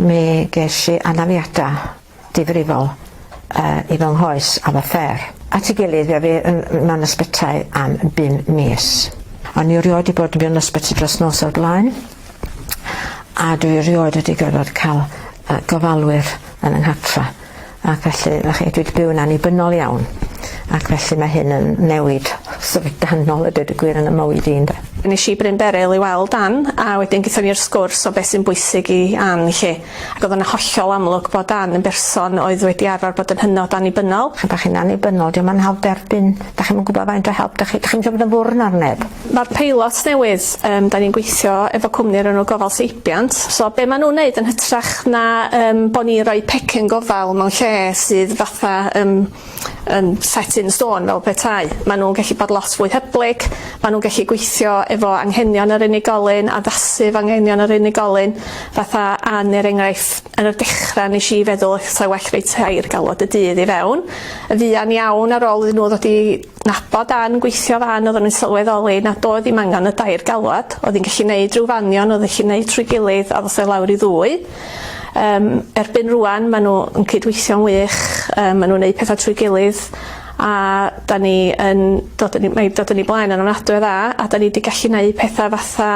Mi ges i anafiadau difrifol uh, i fy nghoes a fy ffer. At ei gilydd fe fi yn mewn ysbytai am bum mis. O'n i rioed wedi bod mewn ysbyty dros nos o'r blaen a dwi rioed wedi gorfod cael uh, gofalwyr yn yng nghatfa. Ac felly, na chi, dwi 'di byw'n annibynnol iawn, ac felly mae hyn yn newid syfrdanol a deud y gwir yn 'y mywyd i ynde? Nes i Bryn Beryl i weld Ann, a wedyn gethon ni'r sgwrs o beth sy'n bwysig i Ann 'lly, ac o'dd o'n hollol amlwg bod Ann yn berson oedd wedi arfar bod yn hynod annibynnol. Pan 'dach chi'n annibynnol, 'di o'm yn hawdd derbyn Dach chi'm yn gwbod faint o help dach chi dach chi'm isio bod yn ddwrn ar neb. Ma'r peilot newydd yym 'dan ni'n gweithio efo cwmni o'r enw Gofal Seibiant so be' ma' nw'n neud yn hytrach na yym bo' ni'n roi pecyn gofal mewn lle sydd fatha yym yn set in stone fel petai ma' nw'n gellu bod lot fwy hyblyg ma' nw'n gellu gweithio efo anghenion yr unigolyn addasu fo anghenion yr unigolyn fatha an er enghraifft yn y dechra nesh i feddwl 'sa well roi tair galwad y dydd i fewn Yn fuan iawn ar ôl iddyn nhw ddod i nabod Ann gweithio fan oedden nhw'n sylweddoli nad oedd ddim angen y dair galwad, oedd hi'n gallu neud rhyw fanion oedd yn gallu neud trwy gilydd a ddoth o i lawr i ddwy. Yym erbyn rŵan ma' nhw yn cydweithio'n wych yy ma' nhw'n neud petha trwy gilydd a 'dan ni yn dod yn 'i mae 'di dod yn 'i blaen yn ofnadwy o dda a 'dan ni 'di gallu neud petha fatha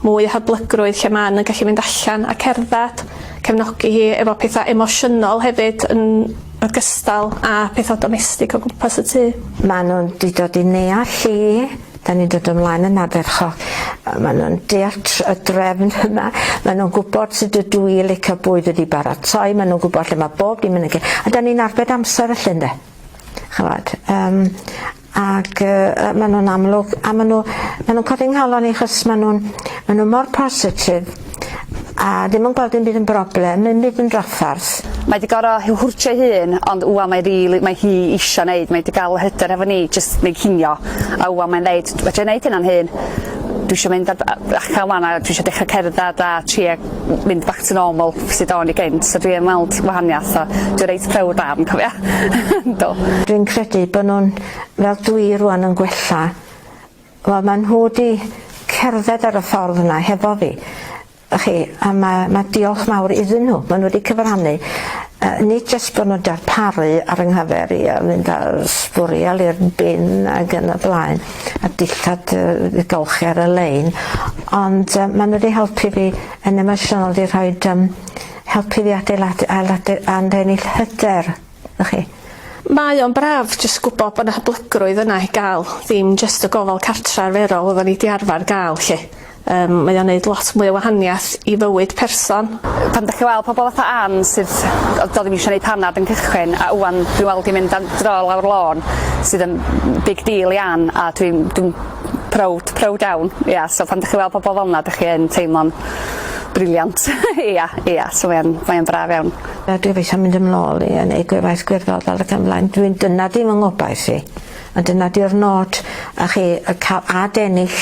mwy o hyblygrwydd lle ma' Ann yn gallu mynd allan a cerddad, cefnogi hi efo petha emosiynol hefyd yn ogystal â pethau domestig o gwmpas y tŷ. Maen nhw'n di dod i neall i, da ni'n dod ymlaen yn ardderchog, maen nhw'n deall y drefn yma, maen nhw'n gwybod sut ydw i licio bwyd wedi baratoi, maen nhw'n gwybod lle mae bob dim yn y lle, a da ni'n arbed amser felly ynde? Chymod, um, Ac yy ma' nhw'n amlwg a ma' nhw ma' nhw'n codi nghalon i achos ma' nhw'n ma' nhw mor positif a ddim yn gweld dim byd yn broblem, ddim byd yn draffarth. Mae 'di goro hi hurtio ei hun ond ŵan mae rili mae hi isio neud mae 'di ga'l y hyder hefo ni jyst neu cinio a ŵan mae'n ddeud fedrai neud hyn o'n hun dwi isio mynd ar b- yy allan ŵan a dwi isio dechra cerddad a tria mynd back to normal sud o'n i gynt so dwi yn weld wahaniath a dwi reit prowd am cofio. Do. Dwi'n credu bo' nw'n fel dwi rŵan yn gwella. Wel ma' nhw 'di cerdded ar y ffordd yna hefo fi y'chi a ma' ma' diolch mawr iddyn nhw ma' nhw 'di cyfrannu yy nid jyst bo' nw'n darparu ar yng nghyfer i a fynd â sbwriel i'r bin ag yn y blaen a dillad yy i golchi ar y lein ond yy ma' n'w 'di helpu fi yn emosiynol 'di rhoid yym helpu fi adeiladu ailadu anfennill hyder y'ch chi. Mae o'n braf jyst gwbo bo' 'na hyblygrwydd yna i ga'l ddim jyst y gofal cartra arferol oddan ni 'di arfar ga'l 'lly. Yym mae o'n neud lot mwy o wahaniath i fywyd person. Yy pan 'dach chi weld pobol fatha Ann sydd yy do'dd 'im isio neud panad yn cychwyn a ŵan dwi'n weld 'i mynd am dro lawr lôn sydd yn big deal i Ann a dwi'n dwi'n prowd prowd iawn ia so pan 'dych chi weld pobol fel 'na 'dych chi yn teimlo'n briliant ia ia so mae o'n mae o'n braf iawn. Yy dwi eisiau mynd yn ôl i yy neud gwefaith gwirfoddol ac yn blaen dwi'n dyna 'di fy ngobaith i a dyna 'di'r nod a chi yy ca'l ad ennill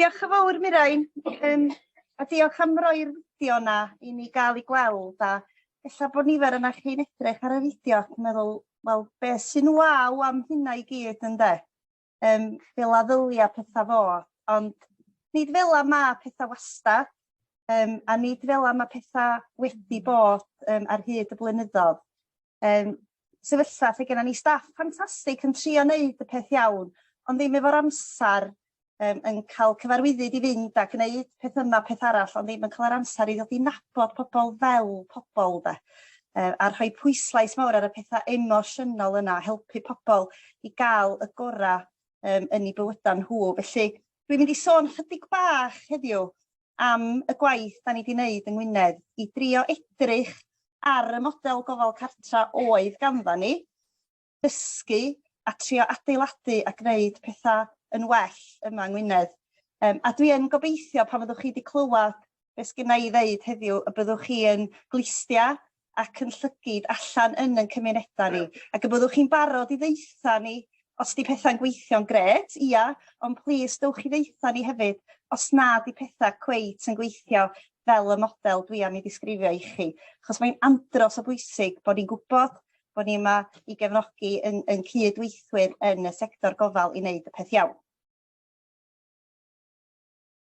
Diolch yn fawr Mirain yym a diolch am roi'r fideo yna i ni ga'l ei gweld a ella bod nifer yna chi'n edrych ar y fideo ac yn meddwl wel be' sy'n waw am hynna i gyd ynde yym fela ddylia petha fod ond nid fela ma' petha wastad yym a nid fela ma' petha wedi bod yym ar hyd y blynyddodd. Yym, sefyllfa lle gennym ni staff ffantastig yn trio wneud y peth iawn, ond ddim efo'r amser, um, yn cael cyfarwyddyd i fynd a gwneud peth yma, peth arall, ond ddim yn cael yr amser i ddod i nabod pobl fel pobl de. Uh, a rhoi pwyslais mawr ar y pethau emosiynol yna, helpu pobl i gael y gorau um, yn ei bywydau nhw. Felly, dwi'n mynd i sôn chydig bach heddiw am y gwaith 'da ni 'di neud yng Ngwynedd i drio edrych ar y model gofal cartra oedd gandda ni, dysgu a trio adeiladu a gwneud petha yn well yma yng Ngwynedd. Um, a dwi yn gobeithio pan fyddwch chi wedi clywed beth sgynna i ddeud heddiw y byddwch chi yn glistia ac yn llygid allan yn yn cymunedau ni, ac y byddwch chi'n barod i ddeitha ni os di pethau'n gweithio'n gret, ia, ond plis dewch i ddeitha ni hefyd os na di pethau cweit yn gweithio fel y model dwi am ei ddisgrifio i chi, achos mae'n andros o bwysig bod ni'n gwybod bod ni yma i gefnogi yn, yn cydweithwyr yn y sector gofal i wneud y peth iawn.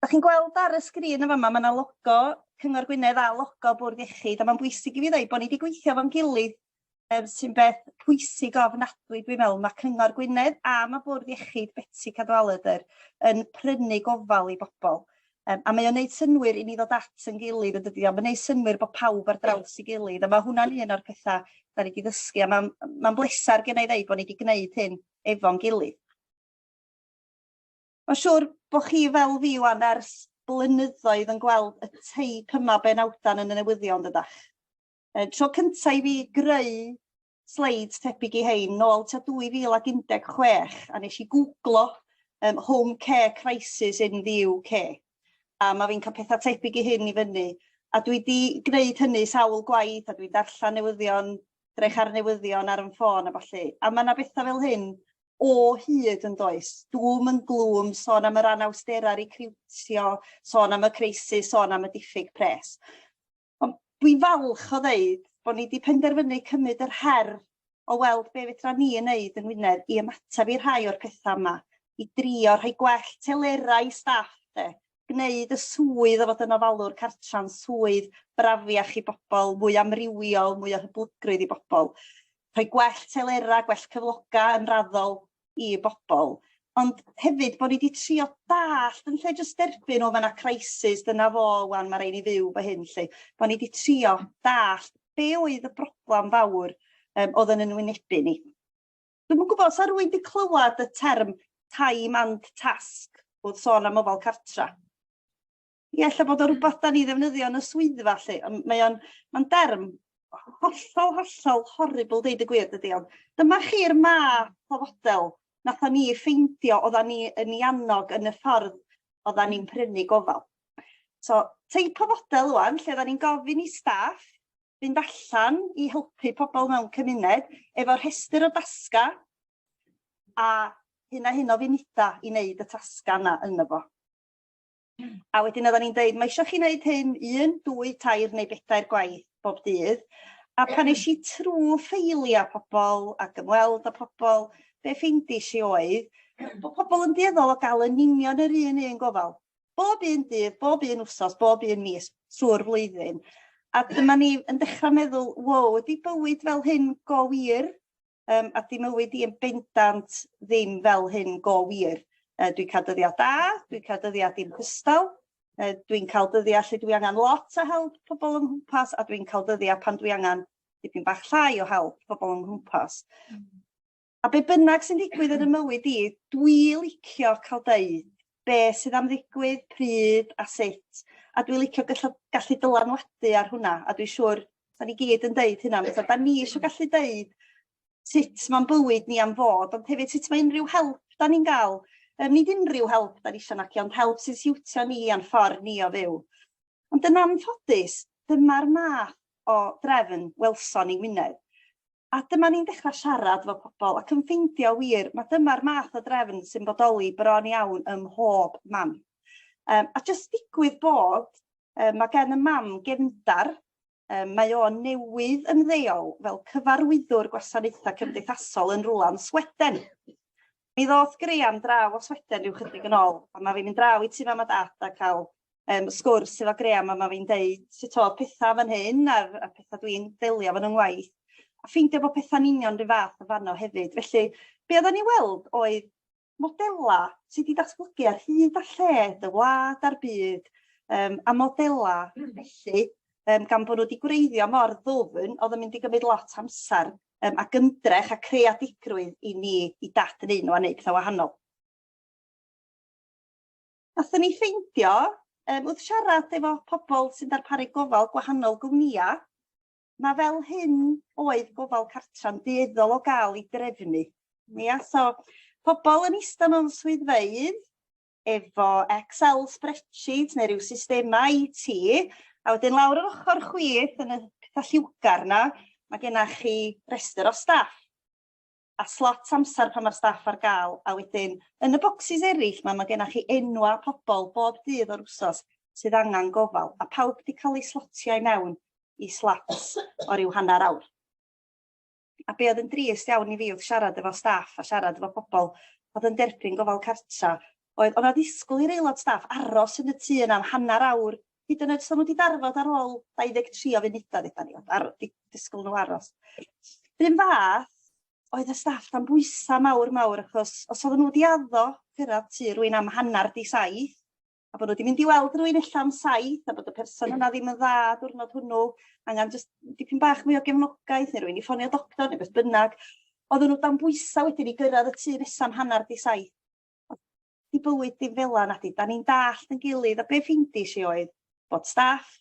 Dach chi'n gweld ar y sgrin yn fama, mae yna logo Cyngor Gwynedd a logo Bwrdd Iechyd, a mae'n bwysig i fi ddweud bod ni wedi gweithio fo'n gilydd, um, sy'n beth pwysig ofnadwy dwi'n meddwl. Mae Cyngor Gwynedd a mae Bwrdd Iechyd Betsi Cadwaladr yn prynu gofal i bobl. Um, a mae o'n neud synwyr i ni ddod at yn gilydd yn dydi o, mae'n neud synwyr bod pawb ar draws i gilydd, a mae hwnna'n un o'r pethau da ni wedi ddysgu, a mae'n ma bleser gen i ddeud bod ni wedi gwneud hyn efo'n gilydd. Mae'n siŵr bod chi fel fi wan ers blynyddoedd yn gweld y teip yma benawdan yn y newyddion, dydach? E, tro cyntaf i fi greu sleids tebyg i hein, nôl ta 2016, a nes i googlo um, home care crisis in the UK, a mae fi'n cael pethau tebyg i hyn i fyny, a dwi wedi gwneud hynny sawl gwaith, a dwi'n darllen newyddion, drech ar newyddion ar yn ffôn a falle, a mae yna bethau fel hyn o hyd yn does? Dŵm yn glwm, sôn am yr anawsterau recriwtio, sôn am y crisis, sôn am y diffyg pres. Ond dwi'n falch o ddeud bod ni wedi penderfynu cymryd yr her o weld be fedra ni yn neud yn Wynedd i ymateb i rhai o'r pethau yma, i drio rhoi gwell telerau i staff de, gwneud y swydd o fod yn ofalwr cartre'n swydd brafiach i bobl, mwy amrywiol, mwy o hyblygrwydd i bobl. Rhoi gwell telerau, gwell cyfloga yn raddol i bobl. Ond hefyd bod ni wedi trio dallt yn lle jyst derbyn o fyna crisis, dyna fo, wan mae rhaid ni fyw fy hyn lle. Bod ni wedi trio dallt be oedd y broblem fawr um, oedd yn ynwynebu ni. Dwi'm yn gwybod, sa rwy'n wedi clywed y term time and task wrth sôn am ofal cartra. Ie, lle bod o hmm. rhywbeth da ni ddefnyddio yn y swyddfa lle, mae o'n ma derm hollol, hollol horrible deud y gwir dydy, ond dyma chi'r math o fodel nath ni ffeindio oedda ni yn ei annog yn y ffordd oedda ni'n prynu gofal. So, teip o fodel wan, lle oedda ni'n gofyn i staff fynd allan i helpu pobl mewn cymuned efo rhestr o dasga a hyn a hyn o funuda i wneud y tasga yna yno fo. A wedyn oedden ni'n dweud, mae eisiau chi wneud hyn un, dwy, tair neu bedair gwaith bob dydd. A pan eis i trwy ffeiliau pobl ac ymweld â pobl, be ffeindis i oedd bod pobl yn dueddol o gael yn union yr un un gofal. bob un dydd, bob un wsos, bob un mis trwy'r flwyddyn. A dyma ni yn dechrau meddwl, wow, ydy bywyd fel hyn go wir? Um, a di mywyd i yn bendant ddim fel hyn go wir. Uh, dwi'n cael dyddiau da, dwi'n cael dyddiau dim cystal, uh, dwi'n cael dyddiau lle dwi angen lot o help pobl yng nghwmpas a dwi'n cael dyddiau pan dwi angen dipyn bach llai o help pobl yng nghwmpas. Mm. A be bynnag sy'n digwydd yn y mywyd i, dwi licio cael deud be sydd am ddigwydd, pryd a sut, a dwi licio gallu, gallu dylanwadu ar hwnna, a dwi'n siŵr, da ni gyd yn deud hynna, so, da ni eisiau gallu deud sut mae'n bywyd ni am fod, ond hefyd sut mae unrhyw help da ni'n gael, um, nid unrhyw help da ni eisiau naci, ond help sy'n siwtio ni a'n ffordd ni o fyw. Ond yn anffodus, dyma'r math o drefn welson ni Wynedd. A dyma ni'n dechra siarad efo pobol ac yn ffeindio wir ma' dyma'r math o drefn sy'n bodoli bron iawn ym mhob man. Yym a jyst digwydd bod yy ma' gen y mam gefndar, yym mae o newydd ymddeol fel cyfarwyddwr gwasanaetha cymdeithasol yn rwla yn Sweden. Mi ddoth Graham draw o Sweden rhyw chydig yn ôl, a ma' fi'n mynd draw i tŷ mam a dad a ca'l yym sgwrs efo Graham a ma' fi'n deud sut o'dd petha fan hyn a'r y petha dwi'n delio efo 'n 'y ngwaith, a ffeindio bo' petha'n union 'run fath yn fanno hefyd. Felly be' oddan ni weld oedd modela' sy 'di datblygu ar hyd a lled y wlad a'r byd yym a modela' felly yym gan bo' n'w 'di gwreiddio mor ddwfn o'dd yn mynd i gymryd lot o amsar yym ac ymdrech a creadigrwydd i ni i dad yn un o a neud petha wahanol. Nathon ni ffeindio yym wrth siarad efo pobol sy'n darparu gofal gwahanol gwmnïa ma' fel hyn oedd gofal cartra'n dueddol o ga'l 'i drefnu. Ia so pobol yn ista mewn swyddfeydd efo Excel spreadsheet neu rhyw systemau IT, a wedyn lawr yr ochr chwith yn y pethau lliwgar yna, mae gennych chi restr o staff a slot amser pan mae'r staff ar gael, a wedyn yn y bocsys eraill mae, mae gennych chi enwau pobl bob dydd o'r wsos sydd angen gofal, a pawb wedi cael eu slotio i mewn i slots o ryw hanner awr. A be' odd yn drist iawn i fi odd siarad efo staff a siarad efo pobol odd yn derbyn gofal cartra oedd o' 'na ddisgwl i'r aelod staff aros yn y tŷ yna am hannar awr hyd yn oed os o'n n'w 'di darfod ar ôl 23 o funuda ddeudan ni ar- di- disgwl n'w aros. 'Run fath oedd y staff dan bwysa mawr mawr achos os oddan n'w 'di addo cyrradd tŷ rywun am hannar 'di saith a bod nhw wedi mynd i weld rhywun illa am saith, a bod y person yna ddim yn dda diwrnod hwnnw, angen just dipyn bach mwy o gefnogaeth, neu rwy'n i ffonio doctor, neu beth bynnag. Oedden nhw dan bwysau wedyn i gyrraedd y tu nesaf hanner di saith. Di bywyd dim fel yna, di. Da ni'n dallt yn gilydd, a be ffindi si oedd bod staff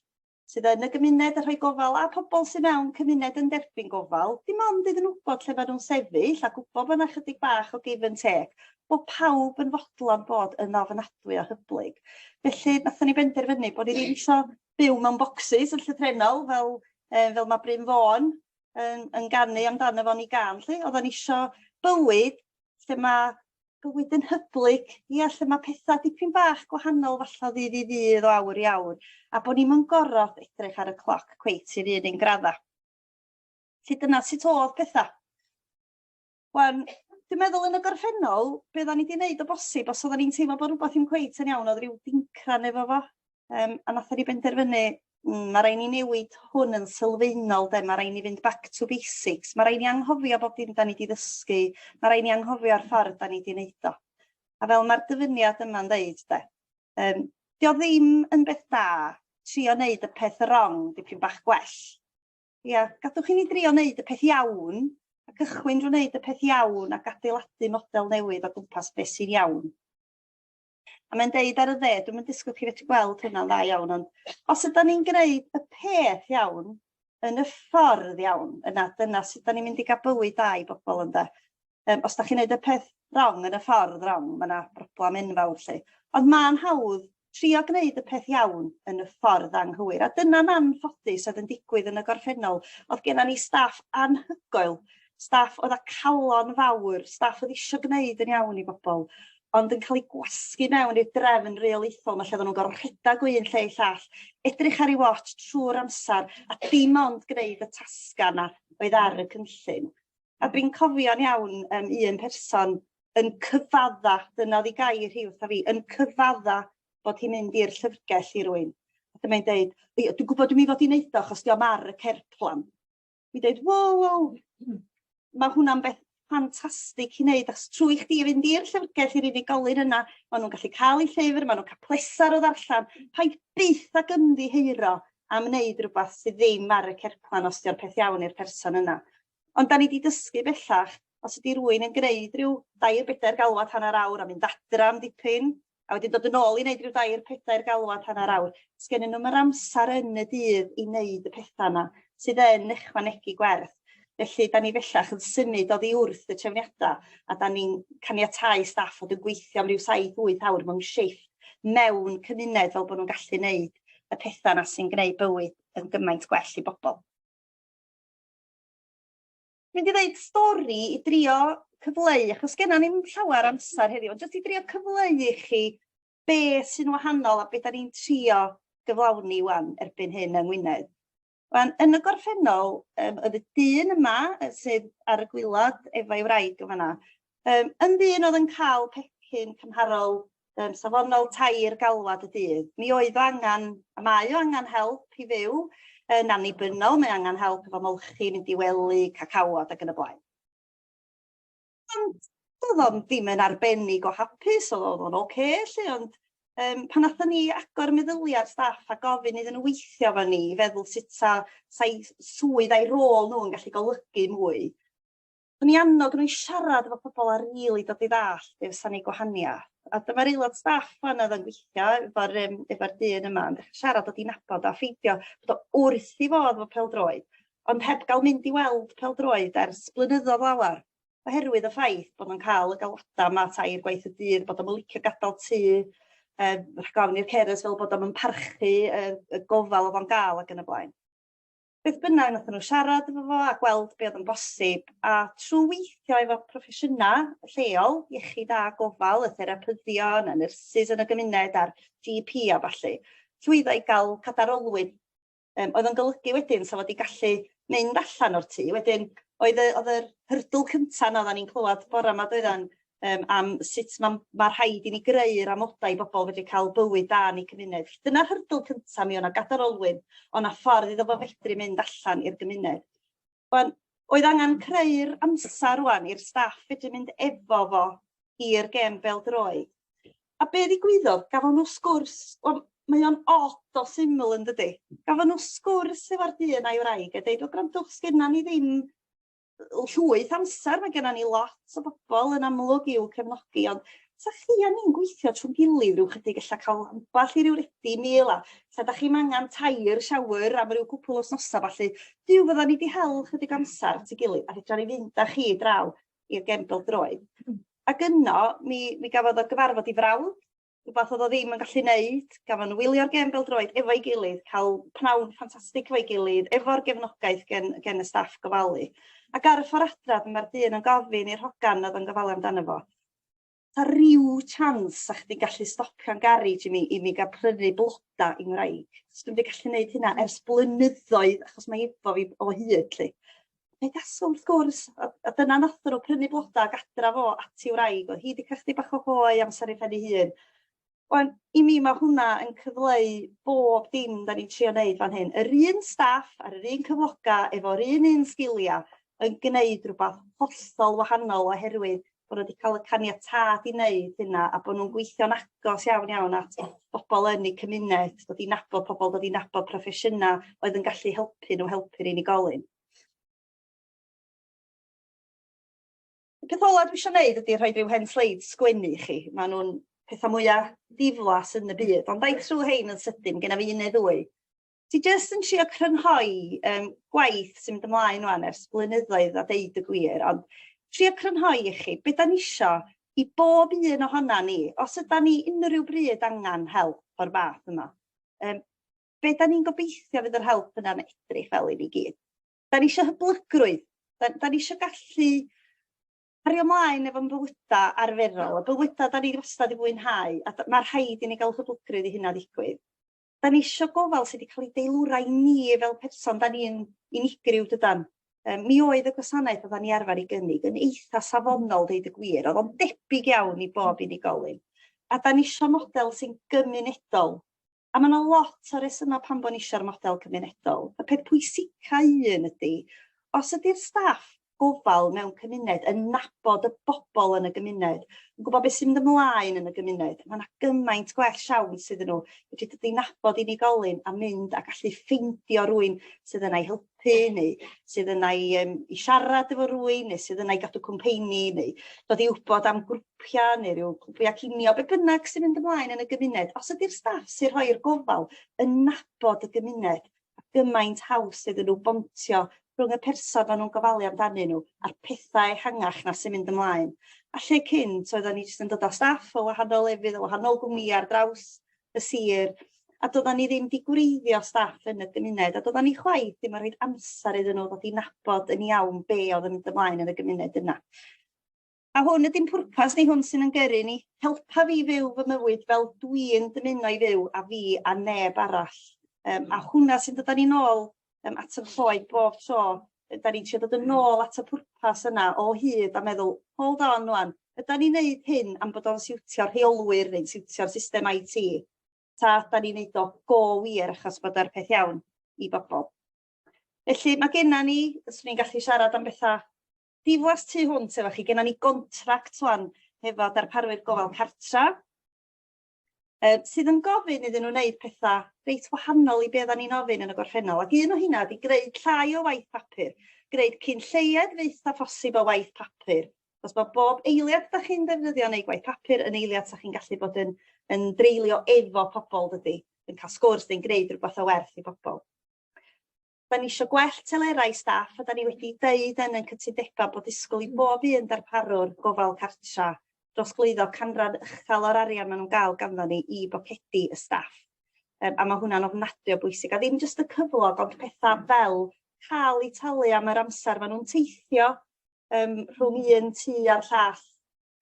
sydd yn y gymuned yn rhoi gofal a pobl sydd mewn cymuned yn derbyn gofal, dim ond iddyn nhw wybod lle maen nhw'n sefyll a gwybod bod yna chydig bach o give and take, bod pawb yn fodlon bod yn ofnadwy o hyblyg. Felly, nathon ni benderfynu bod ni ddim isio byw mewn bocsys yn llythrenol fel, eh, fel mae Bryn Fôn yn, yn ganu amdano fo'n i gan, lle oedden ni isio bywyd lle mae bywyd yn hyblyg, ia, lle mae pethau dipyn bach gwahanol falle ddydd i ddydd o awr i awr, a bod ni'n mynd gorfod edrych ar y cloc cweit i'r un un gradda. Felly dyna sut oedd pethau. Wan, dwi'n meddwl yn y gorffennol, beth o'n i wedi wneud o bosib, os oedden ni'n teimlo bod rhywbeth yn cweit yn iawn, oedd rhyw dincran efo fo, Yym a nathon ni benderfynu mm ma' rai' ni newid hwn yn sylfaenol 'de ma' rai' ni fynd back to basics ma' rai' ni anghofio bob dim 'dan ni 'di ddysgu ma' rai' ni anghofio'r ffordd 'dan ni 'di neud o. A fel ma'r dyfyniad yma'n ddeud 'de yym 'di o ddim yn beth da trio neud y peth rong dipyn bach gwell. Ia gadwch i ni drio neud y peth iawn a cychwyn drw neud y peth iawn ac adeiladu model newydd o gwmpas be' sy'n iawn. A mae'n deud ar y dde, dwi'm yn disgwyl chi fedru gweld hynna'n dda iawn, ond os ydan ni'n gwneud y peth iawn, yn y ffordd iawn, yna dyna sut da ni'n mynd i gael bywyd da i bobl ynde. Um, os da chi'n gwneud y peth wrong yn y ffordd wrong, mae yna broblem enfawr lle. Ond mae'n hawdd trio gwneud y peth iawn yn y ffordd anghywir. A dyna'n anffodus oedd yn digwydd yn y gorffennol. Oedd gennym ni staff anhygoel, staff oedd â calon fawr, staff oedd eisiau gwneud yn iawn i bobl, ond yn cael ei gwasgu mewn i'r drefn reolaethol 'ma lle oddan nhw'n gor'o' rhedag o un lle i llall, edrych ar 'u watsh trw'r amsar a dim ond gneud y tasga 'na oedd ar y cynllun. A dwi'n cofio'n iawn yym un person yn cyfadda, dyna o'dd 'i gair hi wrtha fi, yn cyfadda bod hi'n mynd i'r llyfrgell i rywun. A dyma 'i'n deud, 'Dw i'n gwbod dw i fod i neud o achos 'di o'm ar y cerblan. i dweud, wow, wow, mae hwnna'n beth ffantastig i wneud, achos trwy chdi i fynd i'r llyfrgell i'r unigolyn yna, maen nhw'n gallu cael eu llyfr, maen nhw'n cael pleser o ddarllen, pa i byth ag ymddiheuro am wneud rhywbeth sydd ddim ar y cerplan os di'r peth iawn i'r person yna. Ond da ni wedi dysgu bellach, os ydy rwy'n yn gwneud rhyw dair bedair galwad hanner awr a mynd adra am dipyn, a wedyn dod yn ôl i neud ryw dair pedair galwad hanner awr. Sgennyn nhw'm yr amsar yn y dydd i neud y petha 'na sydd yn ychwanegu gwerth. Felly 'dan ni fellach yn symud oddi wrth y trefniada a 'dan ni'n caniatáu staff fod yn gweithio am ryw saith wyth awr mewn shifft mewn cymuned fel bo' nhw'n gallu neud y petha 'na sy'n gneud bywyd yn gymaint gwell i bobol. mynd i ddeud stori i drio cyfleu, achos genna ni'm llawer amser heddiw, ond jyst i drio cyfleu i chi be sy'n wahanol a beth da ni'n trio gyflawni wan erbyn hyn yng Ngwynedd. Wan, yn y gorffennol, um, oedd y dyn yma sydd ar y gwylod efo'i wraig yn fanna, Yym yn ddyn oedd yn cael pecyn cymharol um, safonol tair galwad y dydd, mi oedd o angen, a mae o angen help i fyw yn annibynnol, mae angen help efo molchi, mynd i wely, cacawod ac yn y blaen. Ond oedd o'n ddim yn arbennig o hapus, oedd o'n oce, okay, lle, ond Um, pan nathon ni agor meddyliau'r staff a gofyn iddyn nhw weithio fo ni, feddwl sut sa, sa'i swydd a'i rôl nhw'n gallu golygu mwy, O'n i annog nhw i siarad efo pobl a rili dod i ddallt be fysa'n ei gwahaniaeth. A dyma'r aelod staff fan oedd yn gweithio efo'r yym efo'r dyn yma yn dechre siarad, dod i nabod o a ffeindio bod o wrth i fodd efo pêl-droed, ond heb gael mynd i weld pêl-droed ers blynyddoedd lawer, oherwydd y ffaith bod nhw'n cael y galwadau 'ma tair gwaith y dydd, bod o'm yn licio gadael tŷ, yym rhag ofn i'r carers feddwl bod o'm yn parchu y y gofal o'dd o'n ga'l ac yn y blaen. beth bynnag wnaethon nhw siarad efo fo a gweld be oedd yn bosib a trwy weithio efo proffesiynau lleol, iechyd a gofal, y therapyddion, y nyrsys yn y gymuned a'r GP a falle, llwyddo i gael cadar olwyn um, oedd yn golygu wedyn sef fod i gallu mynd allan o'r tŷ. Wedyn oedd, y, oedd yr hyrdyl cyntaf na oedden ni'n clywed bore yma doedden yym am sut ma' ma' rhaid i ni greu'r amodau i bobol fedru ca'l bywyd da yn eu cymuned. Dyna'r hurdle cynta mi o' 'na gadar olwyn o' 'na ffordd iddo fo fedru mynd allan i'r gymuned. Wan oedd angan creu'r amsar rŵan i'r staff fedru mynd efo fo i'r gem bêl-droed. A be' ddigwyddodd gafon n'w sgwrs wel mae o'n od o syml yndydi? Gafon n'w sgwrs efo'r dyn a'i wraig a deud wel grandwch sgenna ni ddim llwyth amser, mae gennym ni lot o bobl yn amlwg i'w cefnogi, ond sa chi a ni'n gweithio trwy'n gilydd rhyw chydig ella cael ambell i ryw redi mil a sa da chi'n angen tair siawr am ryw cwpl o snosa falle, dyw fydda ni wedi hel chydig amser at ei gilydd a fedra ni fynd â chi draw i'r gefn bel-droed. Ac yno, mi, mi gafodd o gyfarfod i frawd, rhywbeth oedd o ddim yn gallu neud, gafon nhw wylio'r gêm bêl-droed efo'i gilydd, cael pnawn ffantastig efo'i gilydd, efo'r gefnogaeth gen gen y staff gofalu. Ac ar y ffor adra dyma'r dyn yn gofyn i'r hogan oedd yn gofalu amdano fo, ta ryw chans sa chdi'n gallu stopio'n garej i mi i mi ga'l prynu bloda i ngwraig? 'Chos dwi'm 'di gallu neud hynna ers blynyddoedd achos mae efo fi o hyd 'lly. Fe gaso wrth gwrs, a, a dyna nath nhw prynu bloda ac adra fo at i wraig, oedd hi wedi cael chdi bach o hoe amser ei phen ei hun. Wan, i mi mae hwnna yn cyfleu bob dim da ni'n trio wneud fan hyn. Yr un staff ar yr un cyfloga efo'r un un sgiliau yn gwneud rhywbeth hollol wahanol oherwydd bod nhw wedi cael y caniatâd i wneud hynna a bod nhw'n gweithio'n agos iawn iawn at bobl yn eu cymuned, dod i nabod pobl, dod i nabod proffesiynau oedd yn gallu helpu nhw helpu'r unigolyn. Y peth olaf dwi eisiau gwneud ydy rhoi rhyw hen sleid sgwennu i chi. Maen nhw'n pethau mwyaf diflas yn y byd, ond dau trwy hein yn sydyn, gen i un neu ddwy. Ti jyst yn trio crynhoi um, gwaith sy'n mynd ymlaen rwan ers blynyddoedd a deud y gwir, ond trio crynhoi i chi, beth da ni isio i bob un ohona ni, os yda ni unrhyw bryd angen help o'r fath yma, um, be da ni'n gobeithio fydd yr help yna'n edrych fel i ni gyd. Da ni eisiau hyblygrwydd, da, da ni eisiau gallu cario ymlaen efo'n bywydau arferol, y bywydau da ni wastad i fwynhau, a mae rhaid i ni gael hyblygrwydd i hynna ddigwydd. 'dan ni isio gofal sy' 'di ca'l 'i deilwra i ni fel person 'dan ni'n unigryw dydan? Yym mi oedd y gwasanaeth oddan ni arfar 'i gynnig yn eitha safonol deud y gwir o'dd o'n debyg iawn i bob unigolyn a 'dan ni isio model sy'n gymunedol a ma' 'na lot o resyma pam bo' ni isio'r model cymunedol y peth pwysica un ydi os ydi'r staff gofal mewn cymuned, yn nabod y bobl yn y gymuned, yn gwybod beth sy'n mynd ymlaen yn y gymuned. Mae yna gymaint gwell siawns sydd nhw wedi dod i nabod unigolyn a mynd a gallu ffeindio rwy'n sydd yna i helpu neu sydd yna i, um, i siarad efo rwy'n neu sydd yna i gadw cwmpeini neu dod i wybod am grwpiau neu rhyw grwpiau cinio, be bynnag sy'n mynd ymlaen yn y gymuned. Os ydy'r staff sy'n rhoi'r gofal yn nabod y gymuned, gymaint haws iddyn nhw bontio rhwng y person maen nhw'n gofalu amdanyn nhw a'r pethau ehangach 'na sy'n mynd ymlaen. A lle cynt oeddan ni jyst yn dod â staff o wahanol lefydd, o wahanol gwmnïau ar draws y sir, a doeddan ni ddim 'di gwreiddio staff yn y gymuned, a doeddan ni chwaith ddim yn rhoi amser iddyn nhw ddod i nabod yn iawn be oedd yn mynd ymlaen yn y gymuned yna. A hwn ydy'n pwrpas ni, hwn sy'n yn gyrru ni. Helpa fi fyw fy mywyd fel dwi'n dymuno i fyw a fi a neb arall. Um, a hwnna sy'n dod â ni'n ôl um, at y lloed bob tro. Da ni'n siarad dod yn ôl at y pwrpas yna o hyd a meddwl, hold on wan, yda ni'n neud hyn am bod o'n siwtio'r rheolwyr neu'n siwtio'r system IT? Ta yda ni'n neud o go wir achos bod e'r peth iawn i bobl? Felly mae genna ni, os ni'n gallu siarad am bethau Diflas tu hwnt efo chi, genna ni gontract ŵan hefo darparwyr gofal cartra, yy sydd yn gofyn iddyn nhw wneud petha reit wahanol i be' oeddan ni'n ofyn yn y gorffennol, ac un o hynna ydi greu llai o waith papur, greu cyn lleied fyth â phosib o waith papur, achos ma' bob eiliad 'dach chi'n ddefnyddio yn eu gwaith papur yn eiliad 'sa chi'n gallu bod yn yn dreulio efo pobl dydi, yn cael sgwrs neu'n gwneud rhywbeth o werth i bobl. Da ni isio gwell telerau staff a da ni wedi deud yn ein cytundebau bod disgwyl i bob un darparwr gofal cartra drosglwyddo canran uchel o'r arian maen nhw'n gael ganddon ni i bocedi y staff. Um, a mae hwnna'n ofnadwy o bwysig, a ddim jyst y cyflog, ond pethau fel cael eu talu am yr amser maen nhw'n teithio um, rhwng un tu a'r llall,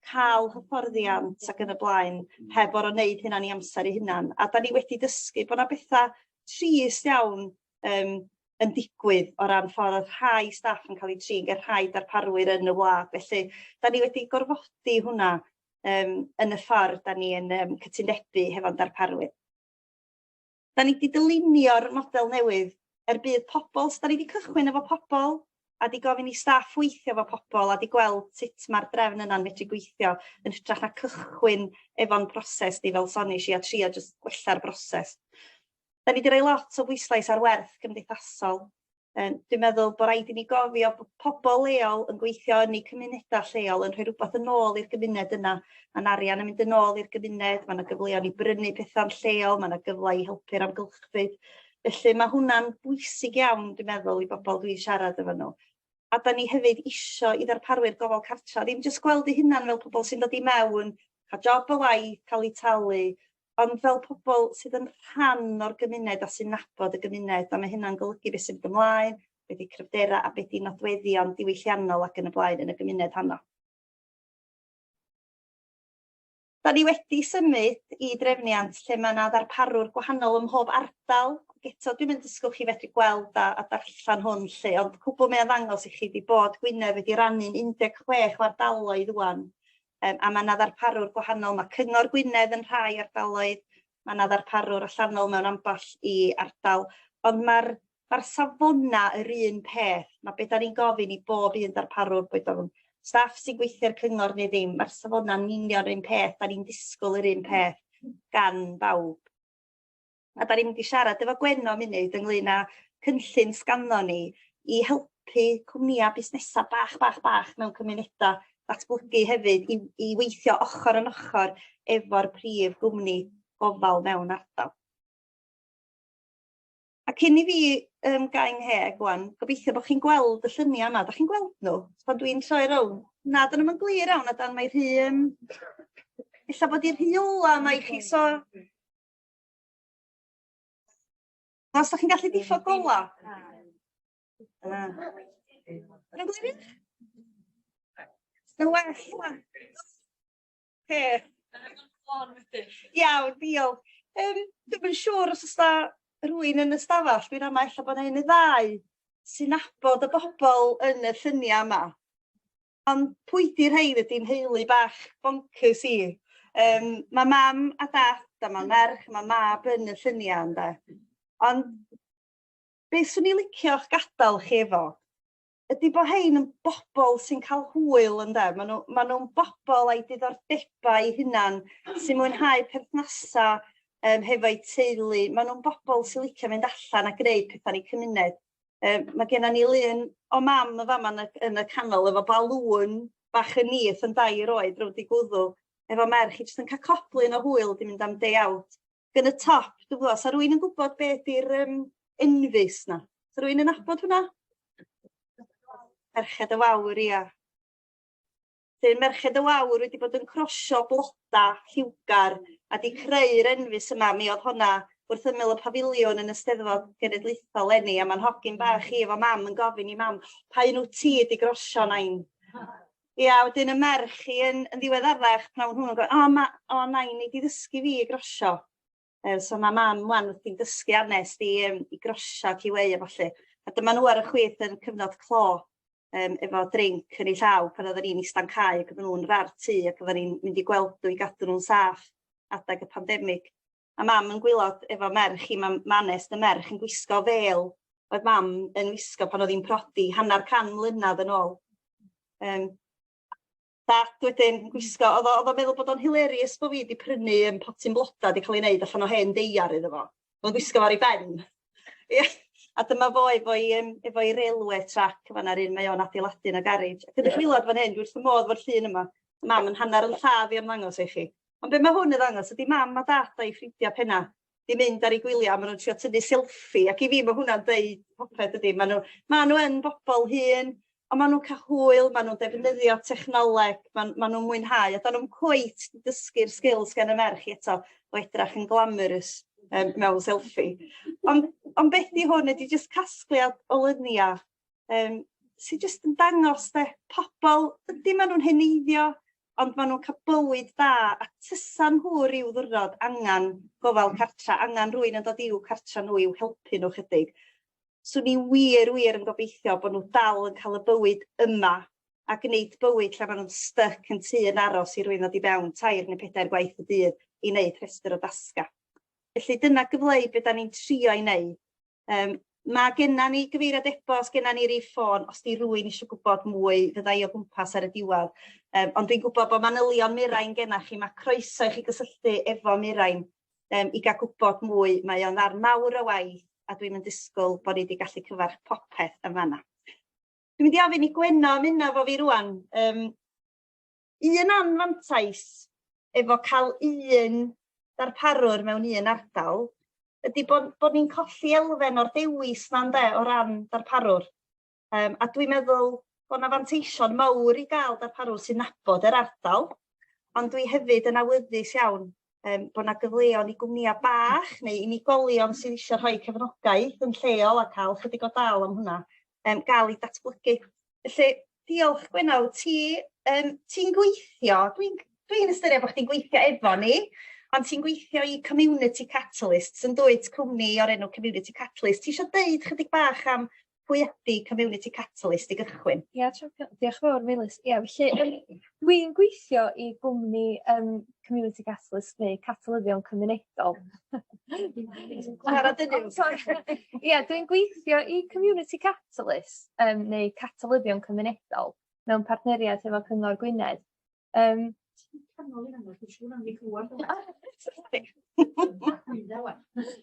ca'l hyfforddiant ac yn y blaen heb or'o' neud hynna'n 'i amser 'i hunan a 'dan ni wedi dysgu bo' 'na betha trist iawn yym yn digwydd o ran ffor odd rhai staff yn ca'l 'u trin ag o'dd rhai darparwyr yn y wlad felly 'dan ni wedi gorfodi hwnna yym yn y ffor 'dan ni yn yym cytundebu hefo'n darparwyr. 'Da ni 'di dylunio'r model newydd er budd pobl, so 'da ni 'di cychwyn efo pobl a 'di gofyn i staff weithio efo pobl a 'di gweld sut ma'r drefn yna'n medru gweithio yn hytrach na cychwyn efo'n proses ni fel sonish i a trio jyst gwella'r broses. 'Da ni 'di roi lot o bwyslais ar werth gymdeithasol Yym dwi'n meddwl bo' raid i ni gofio bo' pobol leol yn gweithio yn eu cymuneda lleol yn rhoi rwbath yn ôl i'r gymuned yna ma'n arian yn mynd yn ôl i'r gymuned ma' 'na gyfleon i brynu petha'n lleol ma' 'na gyfle i helpu'r amgylchfyd felly ma' hwnna'n bwysig iawn dwi'n meddwl i bobol dwi'n siarad efo n'w a 'dan ni hefyd isho i ddarparwyr gofal cartra ddim jyst gweld eu hunan fel pobol sy'n dod i mewn ca'l job a waith ca'l eu talu ond fel pobol sydd yn rhan o'r gymuned a sy'n nabod y gymuned a ma' hynna'n golygu be' sy'n mynd ymlaen be' 'di cryfdera a be' 'di nodweddion diwylliannol ac yn y blaen yn y gymuned honno. 'Dan ni wedi symud i drefniant lle ma' 'na ddarparwr gwahanol ym mhob ardal ac eto dwi'm yn disgwl chi fedru gweld a a darllan hwn lly ond cwbwl mae o'n ddangos i chi 'di bod Gwynedd wedi rannu'n un deg chwech o ardaloedd ŵan Yym, a mae yna ddarparwr gwahanol, mae Cyngor Gwynedd yn rhai ardaloedd, mae yna ddarparwr allanol mewn ambell i ardal, ond mae'r mae'r safonau yr un peth. Mae beth ni'n gofyn i bob un darparwr, boed o'n staff sy'n gweithio'r cyngor neu ddim, mae'r safonau'n union yr un peth, da ni'n disgwyl yr un peth gan bawb. A 'dan ni'n mynd i siarad efo Gwenno munud ynglŷn â cynllun sganddon ni i helpu cwmnïa' busnesa' bach bach bach mewn cymuneda' datblygu hefyd i i weithio ochor yn ochor efo'r prif gwmni gofal mewn ardal. A cyn i fi yym gau 'ngheg ŵan gobeithio bo' chi'n gweld y llynia 'ma 'dach chi'n gweld n'w pan dwi'n troi rown'? Na 'dyn nw'm yn glir iawn a dan mae rhy yym ella bod 'i'n rhy ola 'ma i chi so Os da chi'n gallu diffodd gola. Yn gwir? Yn well yma. Iawn, diolch. Um, Dwi'n yn siŵr os ysda rwy'n yn ystafell, dwi'n ama efallai bod yna un neu ddau sy'n nabod y bobl yn y lluniau yma. Ond pwy 'di rhein ydi nheulu bach boncyrs i. Yym ma' mam a dat a ma' merch ma' mab yn y llunia' ynde? Ond be' swn i licio'ch gadal chi efo ydi bo' rhein yn bobol sy'n ca'l hwyl ynde ma' nw ma' nw'n bobol â'i diddordebau 'u hunan sy'n mwynhau perthnasa' yym hefo'u teulu ma' nw'n bobol sy licio mynd allan a gneud petha'n 'u cymuned. Yym ma' gennon ni lun o mam yn fama yn y yn y canol efo balŵn bach yn nyth yn dair oed rownd 'i gwddw efo merch hi jyst yn ca'l coplyn o hwyl 'di mynd am day out. Ac yn y top dw'bo' 'sa rywun yn gwbod be' 'di'r yym enfys 'na? 'Sa rywun yn nabod hwnna? Merched y Wawr ia. Felly Merched y Wawr wedi bod yn crosio bloda lliwgar a 'di creu'r enfys yma. Mi oedd honna wrth ymyl y pafiliwn yn y Steddfod Genedlaethol leni a ma'n hogyn bach i efo mam yn gofyn i mam pa un wyt ti 'di grosio nain? Ia wedyn y merch hi yn yn ddiweddarach pan o'n nhw'n gofyn o ma' o nain nei di ddysgu fi i grosio. Yy so ma' mam ŵan wrthi'n dysgu ar nes i yym i grosio queue a ballu. A dyma n'w ar y chwith yn cyfnod clo yym efo drinc yn eu llaw pan oddan ni'n ista'n cau ac oddan n'w'n rar tŷ ac oddan ni'n mynd i gweld n'w i gadw n'w'n saff adeg y pandemig. A mam yn gwylod efo merch hi ma' ma' nes y merch yn gwisgo fel oedd mam yn wisgo pan o'dd hi'n prodi hannar can mlynadd yn ôl. Yym. Ac wedyn gwisgo o'dd o o'dd o'n meddwl bod o'n hilarious bo' fi 'di prynu yym potyn bloda 'di ca'l 'i neud allan o hen deiar iddo fo. O'dd o'n gwisgo fo ar 'i ben. Ia a dyma fo efo'i yym efo'i railwê trac fan 'na yr un mae o'n adeiladu yn y garej. Ac yn y gwilod fan hyn dwi wrth fy modd efo'r llun yma. Mam 'yn hannar ynllaw i ymddangos i chi. Ond be' ma' hwn yn ddangos ydi mam a dad a'i ffrindia penna. 'di mynd ar 'u gwylia ma' nw'n trio tyfu selfie ac i fi ma' hwnna'n deud popeth dydi? Ma' n'w ma' n'w yn bobol hŷn on' ma' nw'n ca'l hwyl ma' nw'n defnyddio technoleg ma'n ma' nw'n mwynhau a 'dan nw'm cweit 'di dysgu'r sgil sgen y merch i eto o edrach yn glamorous yym mewn selfie. Ond ond beth 'di hwn ydi jyst casgliad o lynia um, sy'n jyst yn dangos de, pobl, ydy maen nhw'n heneiddio, ond maen nhw'n cael bywyd da, a tysan nhw rhyw ddwrnod angen gofal cartra, angen rwy'n yn dod i'w cartra nhw i'w helpu nhw chydig. So ni wir, wir yn gobeithio bod nhw dal yn cael y bywyd yma a gwneud bywyd lle maen nhw'n styc yn tu yn aros i rwy'n ddod i fewn tair neu pedair gwaith y dydd i wneud rhestr o dasga. Felly dyna gyfleu beth da ni'n trio i wneud Um, mae genna ni gyfeiriad e-bost, genna ni rif ffôn, os di rwy'n eisiau gwybod mwy, fyddai o gwmpas ar y diwedd. Um, ond dwi'n gwybod bod manylion Mirain genna chi, mae croeso i chi gysylltu efo Mirain um, i gael gwybod mwy. Mae o'n ddarn mawr o waith a dwi'n mynd disgwyl bod ni wedi gallu cyfarch popeth yn fanna. Dwi'n mynd i ofyn i Gwenno ymuno fo fi rwan. Um, Un anfantais efo cael un darparwr mewn un ardal ydy bod, bod ni'n colli elfen o'r dewis na ynde o ran darparwr. Um, a dwi'n meddwl bod yna fanteision mawr i gael darparwr sy'n nabod yr ardal, ond dwi hefyd yn awyddus iawn um, bod yna gyfleon i gwmnïau bach neu unigolion sydd eisiau rhoi cefnogaeth yn lleol a cael chydig o dal am hwnna. um, gael ei datblygu. Felly, diolch Gwenal, ti, um, ti'n gweithio, dwi'n dwi, dwi ystyried bod chdi'n gweithio efo ni, ond ti'n gweithio i Community Catalyst, sy'n dweud cwmni o'r enw Community Catalyst. Ti eisiau dweud chydig bach am pwy ydy Community Catalyst i gychwyn? Ia, diolch yn fawr, Meilus. Ia, felly, Dwi'n gweithio i gwmni yym community catalyst neu catalyddion cymunedol. Ia dwi'n gweithio i community catalyst yym neu catalyddion cymunedol mewn partneriaeth efo Cyngor Gwynedd. Yym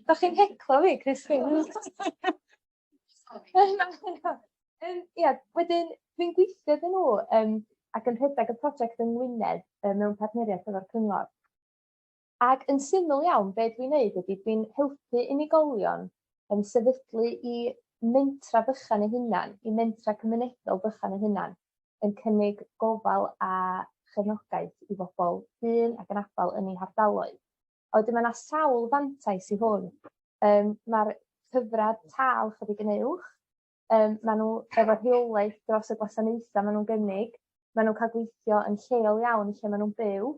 Dach chi'n heclo fi Chris. Yym, ia, wedyn dwi'n gweithio iddyn nhw yym ac yn rhedeg y prosiect yng Ngwynedd yy mewn partneriaeth efo'r cyngor. Ac yn syml iawn be' dwi'n neud ydi dwi'n helpu unigolion yn sefydlu 'u mentra bychan eu hunan, 'u mentra cymunedol bychan eu hunan, yn cynnig gofal a chefnogaeth i bobl hŷn ac anabal yn eu hardaloedd. A wedyn mae yna sawl fantais i hwn. Yym ma'r cyfradd tâl chydig yn uwch. Yym ma' n'w efo rheolaeth dros y gwasanaetha ma' nw'n gynnig. Ma' nw'n ca'l gweithio yn lleol iawn lle ma' nw'n byw.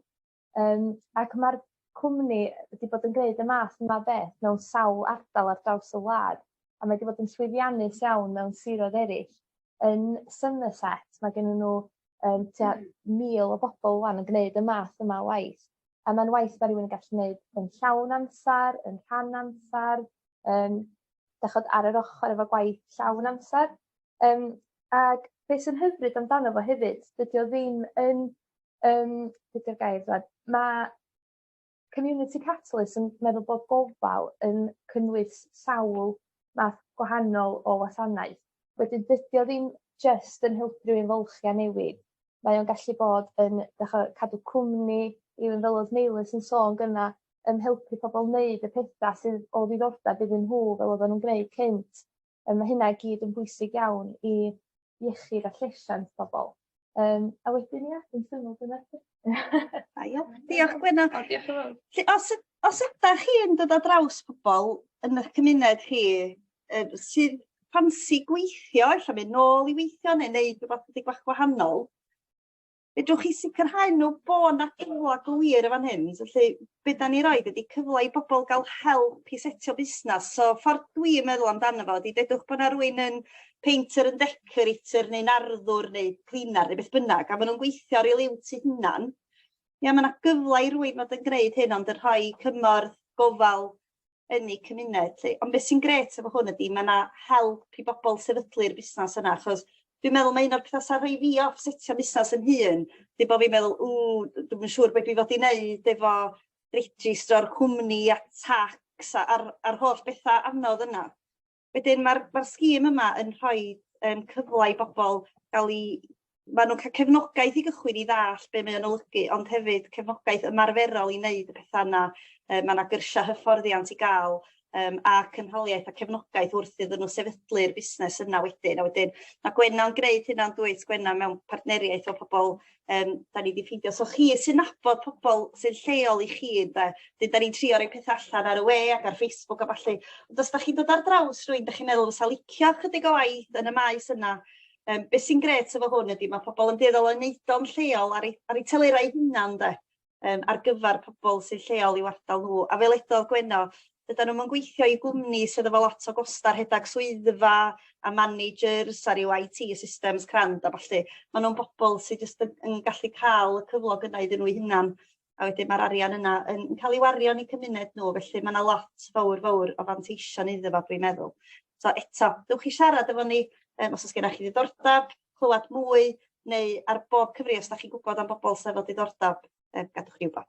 Yym ac ma'r cwmni wedi bod yn gneud y math yma o beth mewn sawl ardal ar draws y wlad a mae 'di bod yn llwyddiannus iawn mewn siroedd eryll. Yn Somerset ma' gennyn n'w yym tua mil o bobol ŵan yn gneud y math yma o waith. A mae'n waith mae rhywun yn gallu gwneud yn llawn amser, yn rhan amser, um, dachod ar yr ochr efo gwaith llawn amser. Um, ac beth sy'n hyfryd amdano fo hefyd, dydy o ddim yn, um, dydy'r gair dweud, mae Community Catalyst yn meddwl bod gofal yn cynnwys sawl math gwahanol o wasanaeth. Wedyn dydi o ddim jyst yn helpu rywun fylchu a newid mae o'n gallu bod yn dych 'o' cadw cwmni even fel odd Neilws yn sôn gynne yn helpu pobol neud y petha sydd o ddiddordab iddyn nhw fel oddan nhw'n gneud cynt yy ma' hynna i gyd yn bwysig iawn i iechyd a llesiant pobol. Um, a wedyn ia, dwi'n syml dyna. Da iawn. Diolch Gwenno. O, diolch yn fawr. Felly, os, os ydych chi'n dod o draws pobl yn eich cymuned chi uh, sydd ffansi gweithio, efallai mynd nôl i weithio neu wneud rhywbeth ydy gwach gwahanol, fedrwch chi sicrhau nhw bod yna gyfle go wir yn fan hyn. Felly, be' 'dan ni roid ydi cyfle i bobol ga'l help i setio busnas so ffor dwi'n meddwl amdano fo ydi dedwch bo' 'na rywun yn painter yn decorator neu'n arddwr neu cleaner neu beth bynnag a ma' nw'n gweithio ar 'u liwt 'u hunan ia ma' 'na gyfle i rywun fod yn gneud hyn ond yn rhoi cymorth gofal yn eu cymuned 'lly. Ond beth sy'n grêt efo hwn ydy mae 'na help i bobl sefydlu'r busnes yna achos dwi'n meddwl mae un o'r pethau sy'n rhoi fi off setio busnes yn hun ydy bod fi'n meddwl ww dwi'm yn siŵr be' dwi fod i wneud efo registro'r cwmni a tax a a'r a'r holl bethau anodd yna. Wedyn mae'r ma sgîm yma yn rhoi um, cyfle i bobl gael ei... Maen nhw'n cael cefnogaeth i gychwyn i ddall be mae'n olygu, ond hefyd cefnogaeth ymarferol i wneud y pethau yna. E, mae yna gyrsiau hyfforddiant i gael um, a cynhaliaeth a cefnogaeth wrth iddyn nhw sefydlu'r busnes yna wedyn. A wedyn mae Gwenna'n gwneud hynna'n dwyt, Gwenna mewn partneriaeth o pobl Yym 'dan ni 'di ffindio so chi sy'n nabod pobol sy'n lleol i chi ynde 'dyn 'dan ni'n trio roi petha allan ar y we ac ar Facebook a ballu ond os 'dach chi'n dod ar draws rywun 'dach chi'n meddwl fysa licio chydig o waith yn y maes yna yym be' sy'n grêt efo hwn ydi ma' pobol yn dueddol o neud o'n lleol ar ei ar ei telera 'i hunan 'de? yym ar gyfar pobol sy lleol i'w ardal nhw a fel edodd Gwenno dydan nhw'm yn gweithio i gwmni sydd efo lot o gosta rhedag swyddfa a managers a ryw IT systems crand a ballu ma' nhw'n bobol sy jyst yn yn gallu ca'l y cyflog yna iddyn nhw'i hunan a wedyn ma'r arian yna yn yn ca'l i wario yn eu cymuned nhw felly ma' 'na lot fowr fowr o fanteision iddo fo dwi'n meddwl. So eto dewch i siarad efo ni yym os o's gennoch chi ddiddordab. clywad mwy neu ar bob cyfri os 'dach chi'n gwbod am bobol sy efo diddordab yy gadwch ni wbod.